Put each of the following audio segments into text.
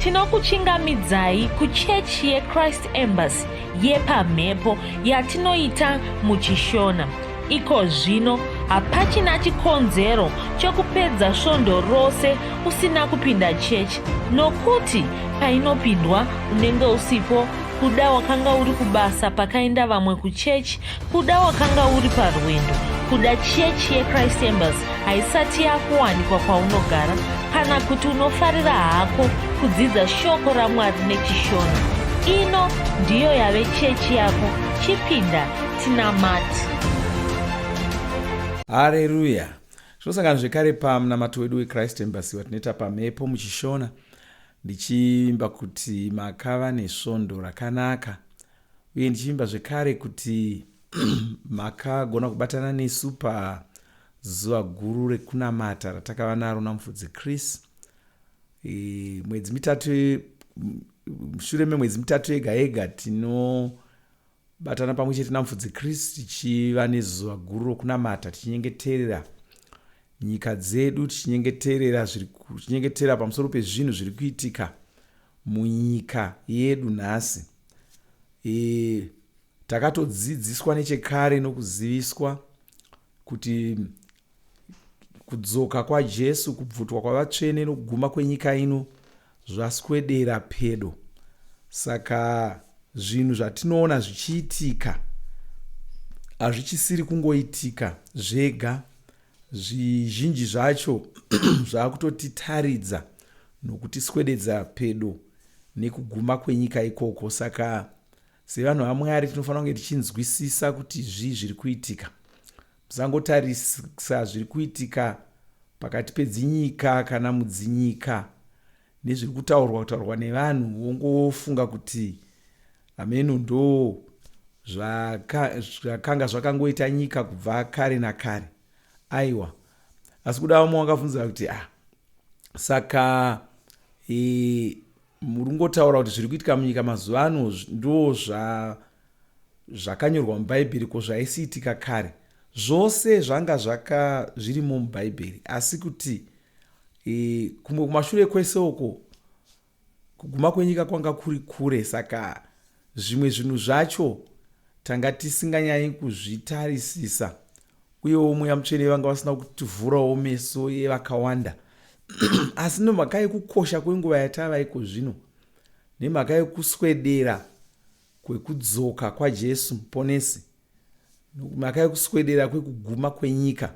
Tinokuchingamidzai kuchechi yeChrist Embassy yepamhepo yatinoita muChishona. Iko zvino hapachina chikonzero chokupedza svondo rose usina kupinda chechi nokuti painopindwa unenge usipo kuda wakanga uri kubasa pakaenda vamwe kuchechi Kuda wakanga uri parwendo kuda chechi yechrist embers haisati yakuwanikwa kwaunogara kana kuti unofarira hako kudzidza shoko ramwari nechishona ino ndiyo yave chechi yako chipinda tinamati hareruya tinosangana zvekare pamunamato wedu wechrist embers watinoita pamhepo muchishona ndichivimba kuti makava nesvondo rakanaka Uye ndichivimba zvekare kuti makagona kubatana nesu pazuva guru rekunamata ratakava naro naMufudzi Chris mwedzi mitatu mushure memwedzi mitatu yega yega tinobatana pamwe chete namufudzi kristu tichiva nezuva guru rokunamata tichinyengeterera nyika dzedu tichinyengeterera tichinyengeterera pamusoro pezvinhu zviri kuitika munyika yedu nhasi e, takatodzidziswa nechekare nokuziviswa kuti kudzoka kwajesu kubvutwa kwavatsvene nokuguma kwenyika ino zvaswedera pedo saka zvinhu zvatinoona zvichiitika hazvichisiri kungoitika zvega zvizhinji zvacho zvakutotitaridza nokutiswededza pedo nekuguma kwenyika ikoko saka sevanhu vamwari tinofanira kunge tichinzwisisa kuti zvii zviri kuitika musangotarisa zviri kuitika pakati pedzinyika kana mudzinyika nezviri kutaurwa kutaurwa nevanhu wongofunga kuti hameno ndo zvakanga zvakangoita nyika kubva kare nakare aiwa asi kuda vamwe wangabvunza kuti ah saka e, muri kungotaura kuti zviri kuitika munyika mazuva ano ndo zvakanyorwa mubhaibheri ko zvaisiitika kare zvose zvanga zvaka zvirimo mubhaibheri asi kuti e, kumwe kumashure kwese uko Kuguma kwenyika kwanga kuri kure saka zvimwe zvinhu zvacho tanga tisinganyanyi kuzvitarisisa uyewo mweya mutsvene vanga vasina kutivhurawo meso yevakawanda asi nemhaka yekukosha kwenguva yatava iko zvino nemhaka yekuswedera kwekudzoka kwajesu muponesi mhaka yekuswedera kwekuguma kwenyika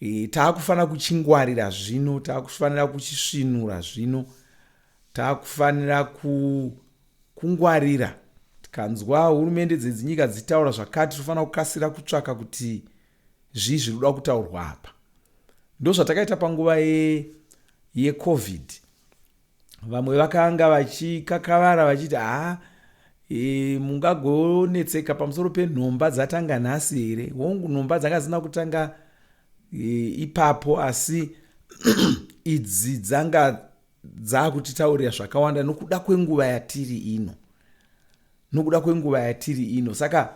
e, taakufanira kuchingwarira zvino taakufanira kuchisvinura zvino taakufanira ku, kungwarira tikanzwa hurumende dzedzinyika dzitaura zvakati tinofanira kukasira kutsvaka kuti zvii zviri kuda kutaurwa apa ndozvatakaita panguva yecovid ye vamwe vakanga vachikakavara vachiti haa e, mungagonetseka pamusoro penhomba dzatanga nhasi here hongu nhomba dzanga zina kutanga e, ipapo asi idzi dzanga dzaakutitaurira zvakawanda nokuda kwenguva yatiri ino nokuda kwenguva yatiri ino saka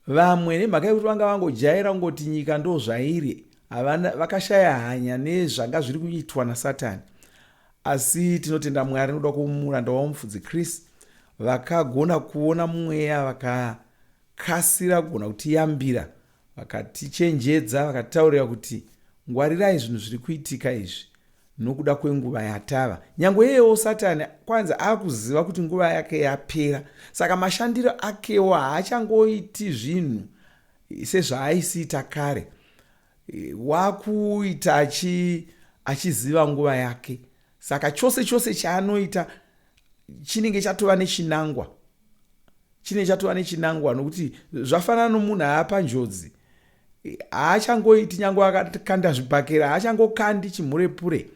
vamwe nemhaka yekuti vanga vangojaira kungoti nyika ndo zvairi havana vakashaya hanya nezvanga zviri kuitwa nasatani asi tinotenda mwari nokuda kwomuranda wavo mufudzi chris vakagona kuona mweya vakakasira kugona kutiyambira Vakatichenjedza, vakataurira kuti ngwarirai zvinhu zviri kuitika izvi nokuda kwenguva yatava. Nyange iyewo Satani kwanzi akuziva kuti nguva yake yapera, saka mashandiro akewo haachangoiti zvinhu sezvaaisiita kare, wakuita achi achiziva nguva yake. Saka chose chose chaanoita chinenge chatova nechinangwa. chine chatova nechinangwa nokuti zvafanana nomunhu aapa njodzi haachangoiti nyange akakanda zvibhakera haachangokandi chimhurepure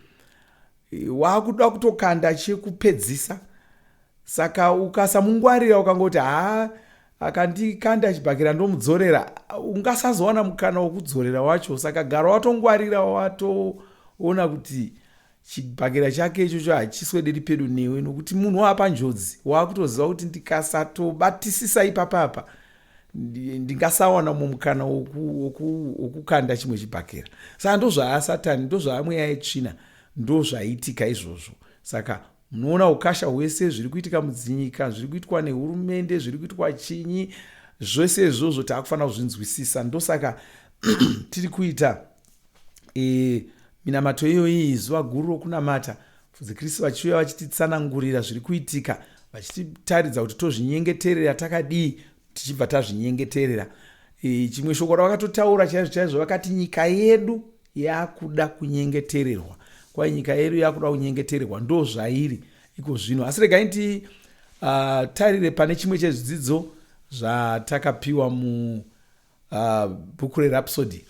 waakuda kutokanda chekupedzisa saka ukasamungwarira ukangoti haa akandikanda chibhakera ndomudzorera ungasazowana mukana wokudzorera wacho saka gara watongwarira watoona kuti chibhakera chake ichocho hachiswederi pedo newe nokuti munhu waapa njodzi waakutoziva kuti ndikasatobatisisa ipapa apa ndingasawana mumwe mukana wokukanda chimwe chibhakera saka ndozvaasatani ndozvaamweya yetsvina ndozvaitika izvozvo saka munoona ukasha hwese zviri kuitika mudzinyika zviri kuitwa nehurumende zviri kuitwa chinyi zvese izvozvo taakufanira kuzvinzwisisa ndosaka tiri kuita e, minamato iyoyi zuva guru rokunamata fudzi kristu vachiuya vachititsanangurira zviri kuitika vachititaridza kuti tozvinyengeterera takadii tichibva tazvinyengeterera e, chimwe shoko ravakatotaura chaizvo chaizvo vakati nyika yedu yakuda kunyengetererwa kwai nyika yedu yakuda kunyengetererwa ndo zvairi iko zvino asi regai nti uh, tarire pane chimwe chezvidzidzo zvatakapiwa mu Ah, bhuku rerapsody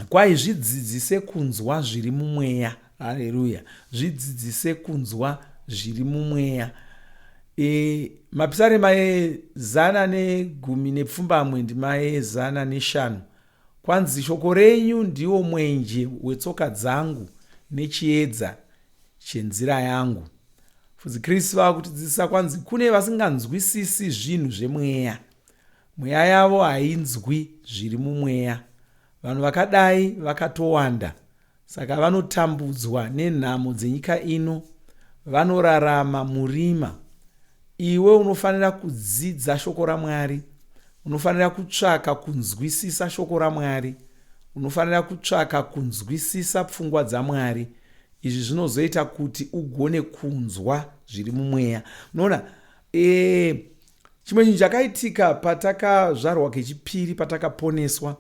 kwai zvidzidzise kunzwa zviri mumweya haleluya zvidzidzise kunzwa zviri mumweya e, mapisarema ezana negumi nepfumbamwe ndima ezana neshanu kwanzi shoko renyu ndiwo mwenje wetsoka dzangu nechiedza chenzira yangu fudzi kristu vava kutidzidzisa kwanzi kune vasinganzwisisi zvinhu zvemweya Mweya yavo hainzwi zviri mumweya. Vanhu vakadai vakatowanda saka vanotambudzwa nenhamo dzenyika ino. Vanorarama murima. Iwe unofanira kudzidza shoko raMwari. Unofanira kutsvaka kunzwisisa shoko raMwari. Unofanira kutsvaka kunzwisisa pfungwa dzaMwari. Izvi zvinozoita kuti ugone kunzwa zviri mumweya. Unoona? Eee. Chimwe chinhu chakaitika patakazvarwa kechipiri patakaponeswa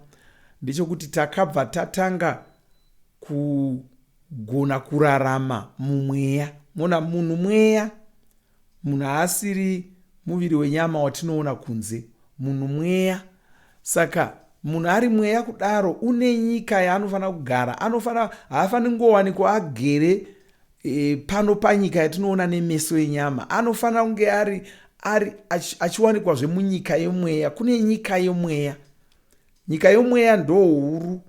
ndechokuti takabva tatanga kugona kurarama mumweya mona munhu mweya munhu haasiri muviri wenyama watinoona kunze munhu mweya saka munhu ari mweya kudaro une nyika yaanofanira kugara anofanira haafaniri kungowanikwa agere e, pano panyika yatinoona nemeso enyama anofanira kunge ari ari achiwanikwazve munyika yemweya kune nyika yemweya nyika yemweya ndohuru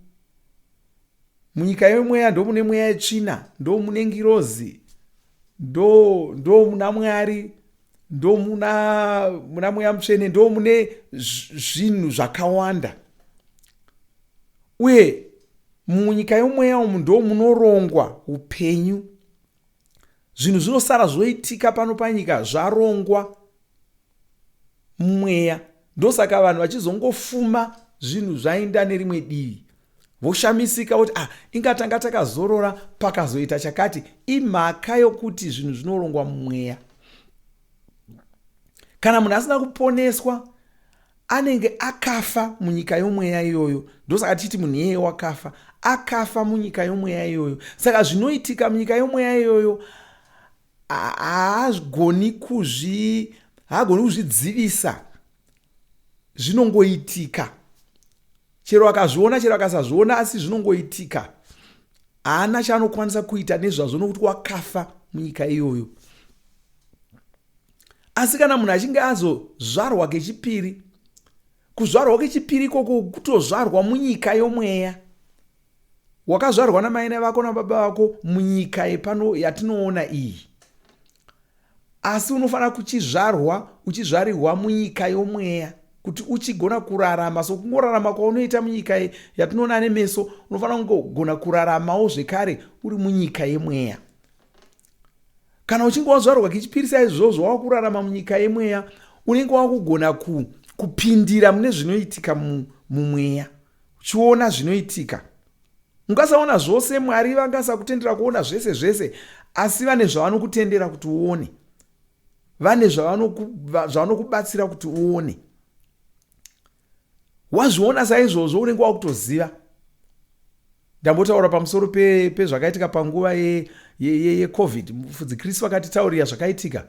munyika yemweya ndomune mweya yetsvina ndomune ngirozi ndo ndo muna mwari ndo muna muna mweya mutsvene ndo mune zvinhu zvakawanda uye Munyika yomweya umu ndoo munorongwa upenyu. Zvinhu zvinosara zvoitika pano panyika zvarongwa mumweya. Ndosaka vanhu vachizongofuma zvinhu zvainda nerimwe divi voshamisika voti ah inga tanga takazorora pakazoita chakati imhaka yokuti zvinhu zvinorongwa mumweya kana munhu asina kuponeswa Anenge akafa munyika yomweya iyoyo. Ndosaka tichiti munhu iyeye wakafa. Akafa munyika yomweya iyoyo. Saka zvinoitika munyika yomweya iyoyo haagoni kuzvi haagoni kuzvidzivisa zvinongoitika chero akazviona chero akasazviona asi zvinongoitika haana chaanokwanisa kuita nezvazvo nokuti wakafa munyika iyoyo asi kana munhu achinge azozvarwa kechipiri kuzvarwa kechipiri ikoko kutozvarwa munyika yomweya wakazvarwa namaina vako nababa vako munyika yepano yatinoona iyi asi unofanira kuchizvarwa uchizvarirwa munyika yomweya kuti uchigona kurarama so kungorarama kwaunoita munyika yatinoona nemeso unofanira kungogona kuraramawo zvekare uri munyika yemweya Kana uchinge wazvarwa kechipiri saizvozvo wava kurarama munyika yemweya, unenge wava kugona ku, kupindira mune zvinoitika mu, mumweya, uchiona zvinoitika. Ungasaona zvose, Mwari vangasakutendera kuona zvese zvese, asi vane zvavanokutendera kuti uone, vane zvavanokubatsira kuti uone. wazviona saizvozvo unenge wakutoziva ndambotaura pamusoro pezvakaitika pe panguva yecovid ye, ye, ye mufudzi kristu vakatitaurira zvakaitika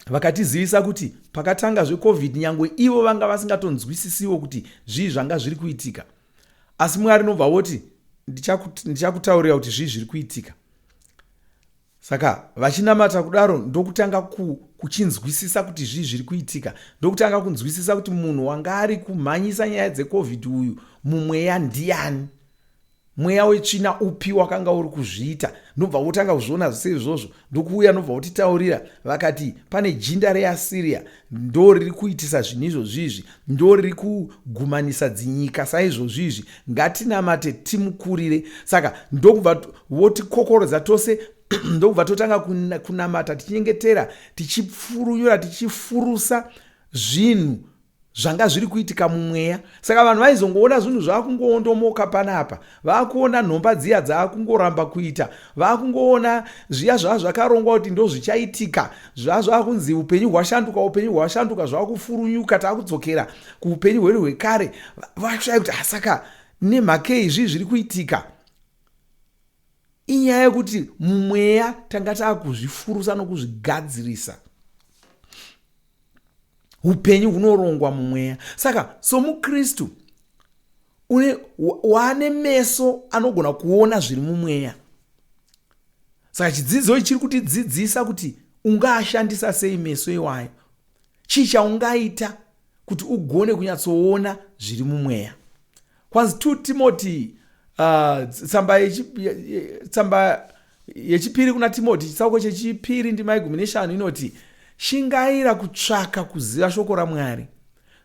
vakatizivisa kuti pakatanga zvecovid nyange ivo vanga vasingatonzwisisiwo kuti zvii zvanga zviri kuitika asi mwari nobva voti ndichakutaurira kuti zvii zviri kuitika Saka vachinamata kudaro ndokutanga ku, kuchinzwisisa kuti zvii zviri kuitika, ndokutanga kunzwisisa kuti munhu wanga ari kumhanyisa nyaya dzecovid uyu mumweya ndiyani, mweya wetsvina upi wakanga uri kuzviita. Ndobva wotanga kuzviona zvese izvozvo, ndokuuya ndobva wotitaurira vakati pane jinda reasiriya ndo riri kuitisa zvinhu izvozvizvi ndo riri kugumanisa dzinyika saizvozvizvi ngatinamate timukurire saka ndokubva votikokorodza tose ndokubva totanga kunamata tichinyengetera tichipfurunyura tichifurusa zvinhu zvanga zviri kuitika mumweya saka vanhu vaizongoona zvinhu zvakungoondomoka panapa vakuona nhomba dziya dzakungoramba kuita vakungoona zviya zvava zvakarongwa kuti ndozvichaitika zvava zvakunzi upenyu hwashanduka upenyu hwashanduka zvakufurunyuka takudzokera kuupenyu hwedu hwekare vakushaya kuti hasaka ah, nemhakei zvii zviri kuitika inyaya yekuti mumweya tanga takuzvifurusa nokuzvigadzirisa upenyu hunorongwa mumweya saka somukristu une waane meso anogona kuona zviri mumweya saka chidzidzo ichi chiri kutidzidzisa kuti ungaashandisa sei meso iwayo chii chaungaita kuti ugone kunyatsoona zviri mumweya Kwanzi 2 Timoti uh, tsamba yechi, tsamba yechipiri kuna Timoti chitsauko chechipiri ndima yegumi neshanu inoti shingaira kutsvaka kuziva shoko raMwari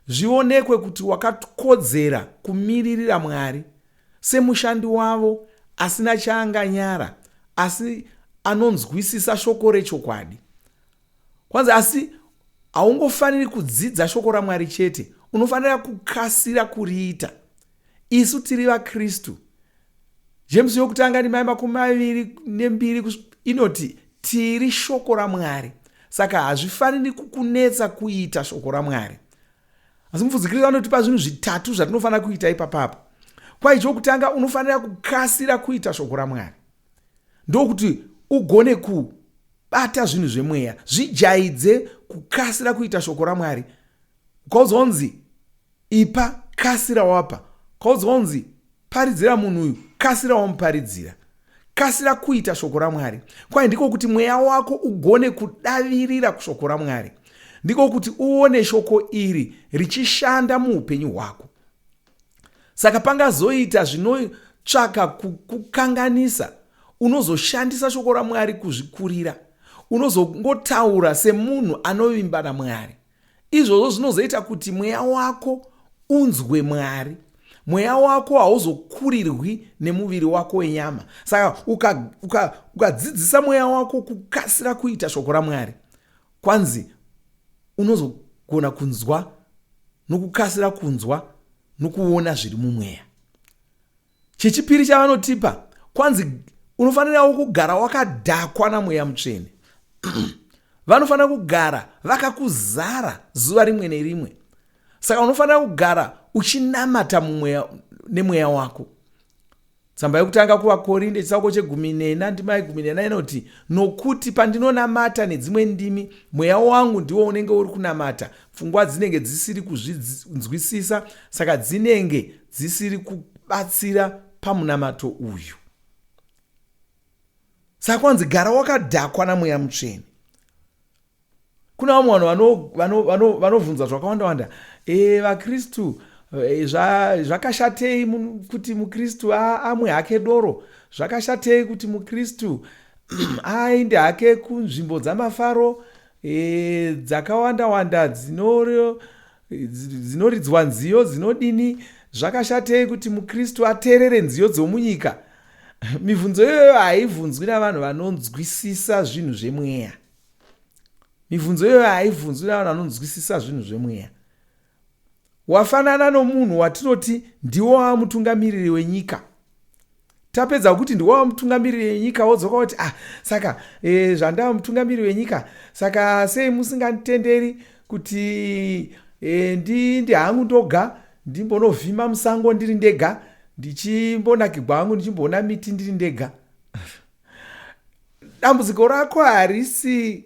zvionekwe kuti wakakodzera kumiririra Mwari semushandi wavo asina chaanganyara asi anonzwisisa shoko rechokwadi Kwanzi asi haungofaniri kudzidza shoko raMwari chete, unofanira kukasira kuriita. Isu tiri vaKristu. James yokutanga ndimai makumi maviri nembiri inoti tiri shoko raMwari. Saka hazvifaniri kukunetsa kuita shoko raMwari. Asi mupfuzikiriro anotipa zvinhu zvitatu zvatinofanira kuita ipapapo. Kwai chokutanga unofanira kukasira kuita shoko raMwari. Ndokuti ugone ku Bata zvinhu zvemweya. Zvijaidze kukasira kuita shoko raMwari. Ukaudzwa unzi ipa, kasira wapa. Ukaudzwa unzi paridzira munhu uyu, kasira wamuparidzira. Kasira kuita shoko raMwari. Kwai ndiko kuti mweya wako ugone kudavirira kushoko raMwari. Ndiko kuti uone shoko iri richishanda muupenyu hwako. Saka pangazoita zvinotsvaka kukukanganisa, unozoshandisa shoko raMwari kuzvikurira. Unozongotaura semunhu anovimba naMwari. Izvozvo zvinozoita kuti mweya wako unzwe Mwari. Mweya wako hauzokurirwi nemuviri wako wenyama. Saka ukadzidzisa uka, uka mweya wako kukasira kuita shoko raMwari, kwanzi unozogona kunzwa nokukasira kunzwa nokuona zviri mumweya chechipiri chavanotipa kwanzi unofanirawo kugara wakadhakwa namweya mutsvene vanofanira kugara vakakuzara zuva rimwe nerimwe saka unofanira kugara uchinamata mumweya nemweya wako Tsamba yokutanga kuvaKorinde chitsauko chegumi nena ndima yegumi nena inoti, Nokuti pandinonamata nedzimwe ndimi, mweya wangu ndiwo unenge uri kunamata, pfungwa dzinenge dzisiri kuzvinzwisisa, saka dzinenge dzisiri kubatsira pamunamato uyu. Saka kwanzi gara wakadhakwa namweya mutsvene. kuna vamwe vanhu vanovhunza zvakawanda wanda e, vakristu e, zvakashatei kuti mukristu amwe hake doro zvakashatei kuti mukristu aende hake kunzvimbo dzamafaro e, dzakawanda wanda dzinoridzwa nziyo dzinodini zvakashatei kuti mukristu ateerere nziyo dzomunyika mibvunzo iyoyo haibvunzwi navanhu vanonzwisisa zvinhu zvemweya mibvunzo iyoyo haibvunzwi navanhu vanonzwisisa zvinhu zvemweya wafanana nomunhu watinoti ndiwo wava mutungamiriri wenyika tapedza kuti ndiwo wava mutungamiriri wenyika wodzoka kuti ah saka e, zvandava mutungamiriri wenyika saka sei musinganditenderi kuti e, ndi ndi hangu ndoga ndimbonovhima musango ndiri ndega ndichimbonakigwa hangu ndichimboona miti ndiri ndega dambudziko rako harisi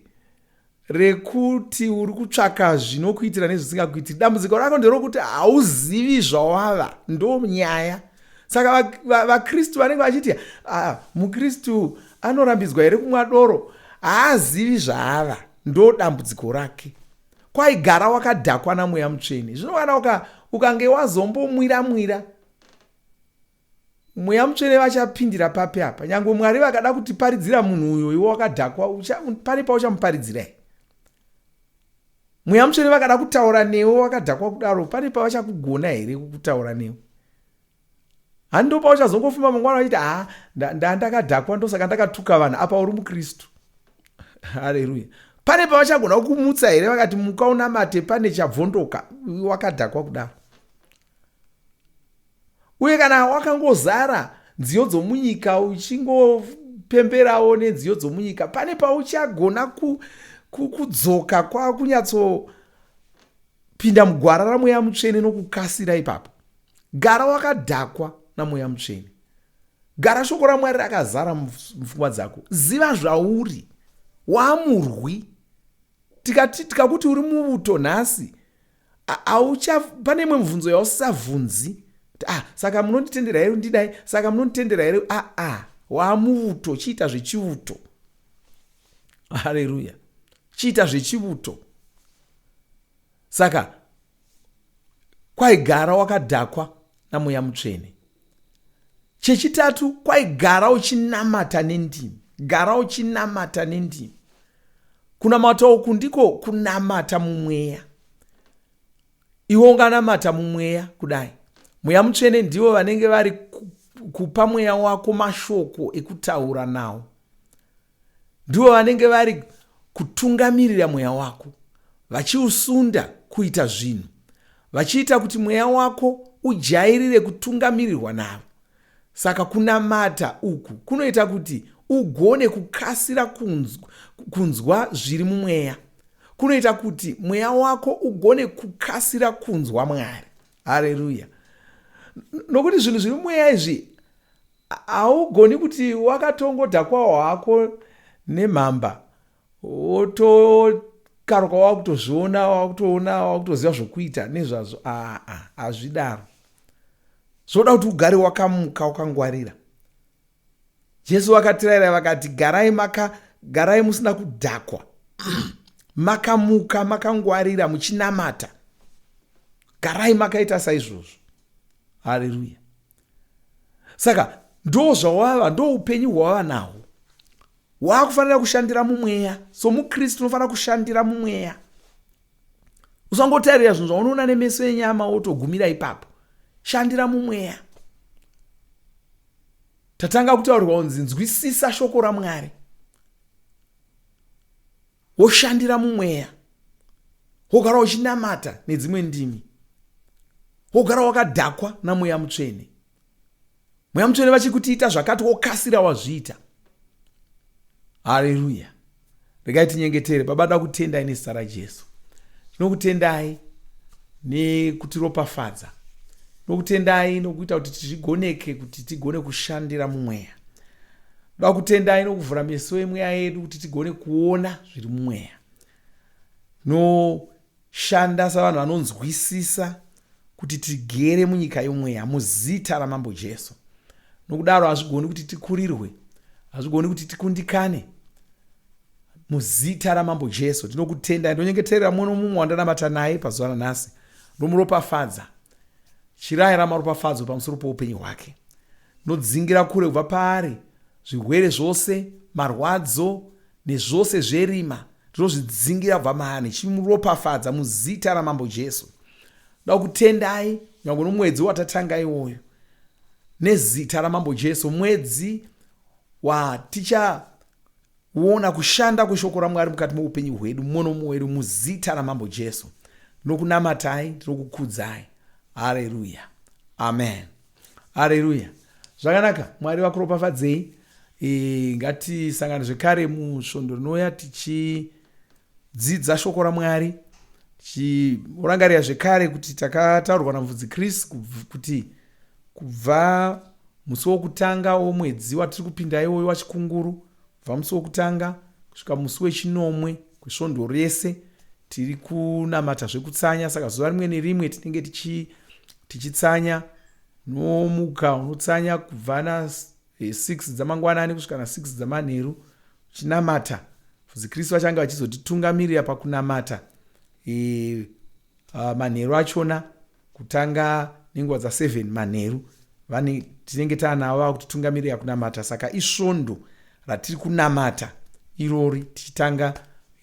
rekuti uri kutsvaka zvinokuitira nezvisingakuitiri dambudziko rako nderokuti hauzivi zvawava ndo nyaya saka vakristu vanenge vachiti ah, mukristu anorambidzwa here kumwa doro haazivi zvaava ndo dambudziko rake kwaigara wakadhakwa namweya mutsvene zvino kana ukange wazombomwira mwira Mweya mutsvene vachapindira papi apa? Nyangwe Mwari vakada kutiparidzira munhu uyo iwe wakadhakwa, pane pauchamuparidzira here? Mweya mutsvene vakada kutaura newe wakadhakwa kudaro, pane pavachakugona here kutaura newe? Hani ndo pauchazongofumba mangwana vachiti haa ndandakadhakwa ndosaka ndakatuka vanhu apa uri mukristu. Haleluya. Pane pavachagona kukumutsa here vakati muka unamate pane chabvondoka wakadhakwa kudaro? uye kana wakangozara nziyo dzomunyika uchingopemberawo nenziyo dzomunyika pane pauchagona kudzoka kwakunyatsopinda mugwara ramweya mutsvene nokukasira ipapo gara wakadhakwa namweya mutsvene gara shoko ramwari rakazara mupfungwa dzako ziva zvauri waamurwi tikakuti uri muvuto nhasi aucha pane imwe mubvunzo yausavhunzi ah, saka munonditendera here ndidai saka munonditendera here aa ah, ah, wamuvuto chiita zvechivuto haleluya chiita zvechivuto saka kwaigara wakadhakwa namweya mutsvene Chechitatu kwaigara uchinamata nendimi. Gara uchinamata nendimi. Kunamata uku ndiko kunamata mumweya. Iwe unganamata mumweya kudai. Mweya mutsvene ndivo vanenge vari kupa mweya wako mashoko ekutaura nawo. ndivo vanenge vari kutungamirira mweya wako vachiusunda kuita zvinhu vachiita kuti mweya wako ujairire kutungamirirwa navo saka kunamata uku kunoita kuti ugone kukasira kunzwa, kunzwa zviri mumweya kunoita kuti mweya wako ugone kukasira kunzwa mwari hareruya nokuti zvinhu zviri mumweya izvi Haugoni kuti wakatongodhakwawo hako nemhamba wotokaruka wakutozviona wakutoona wakutoziva zvokuita nezvazvo aa hazvidaro zvoda kuti ugare wakamuka wakangwarira jesu vakatiraira vakati garai maka garai musina kudhakwa makamuka makangwarira muchinamata garai makaita saizvozvo hareruya saka ndo zvawava ndo upenyu hwawava nahwo waakufanira kushandira mumweya so mukristu unofanira kushandira mumweya usangotarira zvinhu zvaunoona nemeso enyama wotogumira ipapo shandira mumweya tatanga kutaurirwa kunzi nzwisisa shoko ramwari woshandira mumweya wogara uchinamata nedzimwe ndimi wogara wakadhakwa namweya mutsvene mweya mutsvene vachikutiita zvakati wokasira wazviita hareruya regai tinyengetere baba da kutendai nezita rajesu tinokutendai nekutiropafadza tinokutendai nokuita kuti tizvigoneke kuti tigone kushandira mumweya Ndoda kutendai nokuvhura meso emweya yedu kuti tigone kuona zviri mumweya noshanda savanhu vanonzwisisa kuti tigere munyika yomweya muzita ramambo Jesu. Nokudaro hazvigoni kuti tikurirwe, hazvigoni kuti tikundikane muzita ramambo Jesu. Ndinokutendai, ndonyengeterera mumwe nomumwe wandanamata naye pazuva ranhasi, ndomuropafadza Chirayira maropafadzo pamusoro poupenyu hwake. Nodzingira kure kubva paari zvirwere zvose, marwadzo nezvose zverima. Ndinozvidzingira kubva maari nechimuropafadza muzita ramambo Jesu. Da kutendai nyangwe nomwedzi watatanga iwoyo nezita ramambo Jesu mwedzi waticha Wona kushanda kweshoko raMwari mukati moupenyu hwedu mumwe nomumwe wedu muzita raMambo Jesu. Tinokunamatai, tinokukudzai. Hareruya. Amen. Hareruya. Zvakanaka, Mwari vakuropafadzei. E, ngatisangane zvekare musvondo rinouya tichidzidza shoko raMwari tichirangarira zvekare kuti takataurwa naMvudzi Chris kuti Kubva musi wokutanga womwedzi watiri kupinda iwoyo waChikunguru, kubva musi wokutanga kusvika musi wechinomwe kwesvondo rese tiri kunamata zvekutsanya. Saka zuva rimwe nerimwe tinenge tichi, tichitsanya nomuka unotsanya kubva na 6 eh, dzamangwanani kusvika na 6 dzamanheru uchinamata fuzi kristu vachange vachizotitungamirira pakunamata e, uh, manheru achona Kutanga nenguva dza 7 manheru vane tinenge taanavo vava kutitungamirira kunamata saka isvondo ratiri kunamata irori tichitanga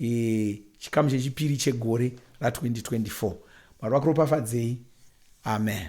e, chikamu chechipiri chegore ra 2024 mwari vakuropafadzei amen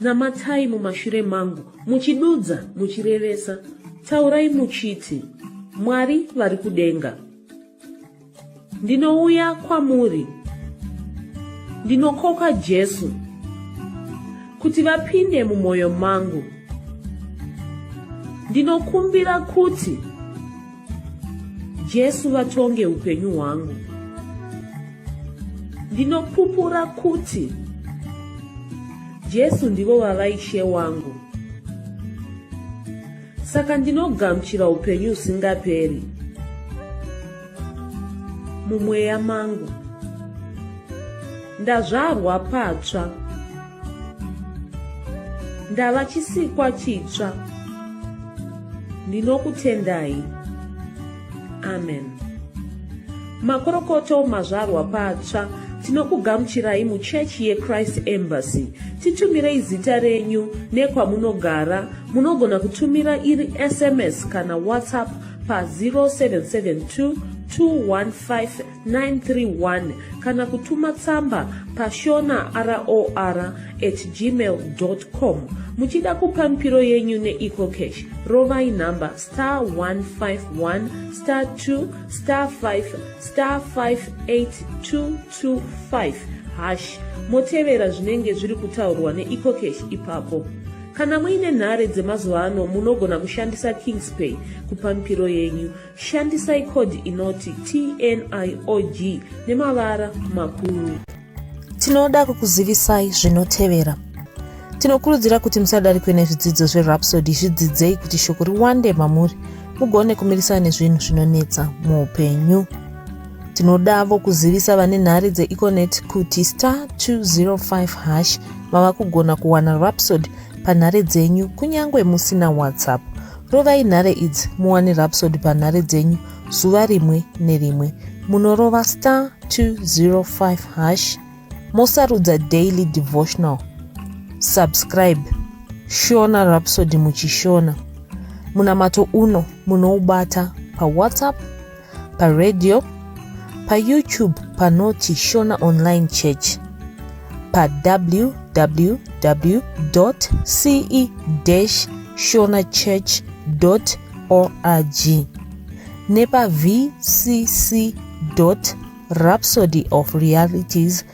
Namatai mumashure mangu, muchidudza, muchirevesa, taurai muchiti, Mwari vari kudenga. Ndinouya kwamuri, ndinokoka Jesu, kuti vapinde mumwoyo mangu. Ndinokumbira kuti Jesu vatonge upenyu hwangu. Ndinopupura kuti Jesu ndivo vava ishe wangu. Saka ndinogamuchira upenyu usingaperi mumweya mangu. Ndazvarwa patsva. ndava chisikwa chitsva ndinokutendai amen makorokoto mazvarwa patsva tinokugamuchirai muchechi yechrist embassy titumirei zita renyu nekwamunogara munogona kutumira iri sms kana whatsapp pa 0772 215 931 kana kutuma tsamba pashona ror at gmail com muchida kupa mipiro yenyu neecocash rovai nhamba star 151 star 2 star 5 star 58225 hash motevera zvinenge zviri kutaurwa neecocash ipapo kana muine nhare dzemazuva ano munogona kushandisa kingspay kupa mipiro yenyu Shandisai code inoti TNIOG nemavara makuru. Tinoda kukuzivisai zvinotevera. Tinokurudzira kuti musadarikwe nezvidzidzo zveRhapsody zvidzidzei kuti shoko riwande mamuri mugone kumirisana nezvinhu zvinonetsa muupenyu. Tinodavo kuzivisa vane nhare dzeEconet kuti star 205 hash vava kugona kuwana Rhapsody panhare dzenyu kunyange musina WhatsApp. Rovai nhare idzi muwane Rhapsody panhare dzenyu zuva rimwe nerimwe. Munorova star 205 hash mosarudza daily devotional. Subscribe Shona Rhapsody muchishona. Munamato uno munoubata paWhatsApp paradio payoutube panoti shona online church pawww ce shona church org nepavcc rhapsody of realities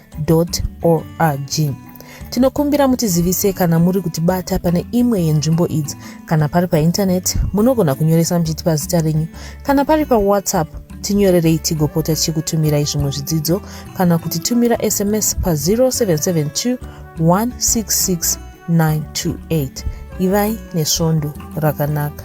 org tinokumbira mutizivise kana muri kutibata pane imwe yenzvimbo idzi kana pari paintaneti munogona kunyoresa muchiti pazita renyu kana pari pawhatsapp tinyorerei tigopota tichikutumirai zvimwe zvidzidzo kana kuti tumira sms pa 0772 166 928 ivai nesvondo rakanaka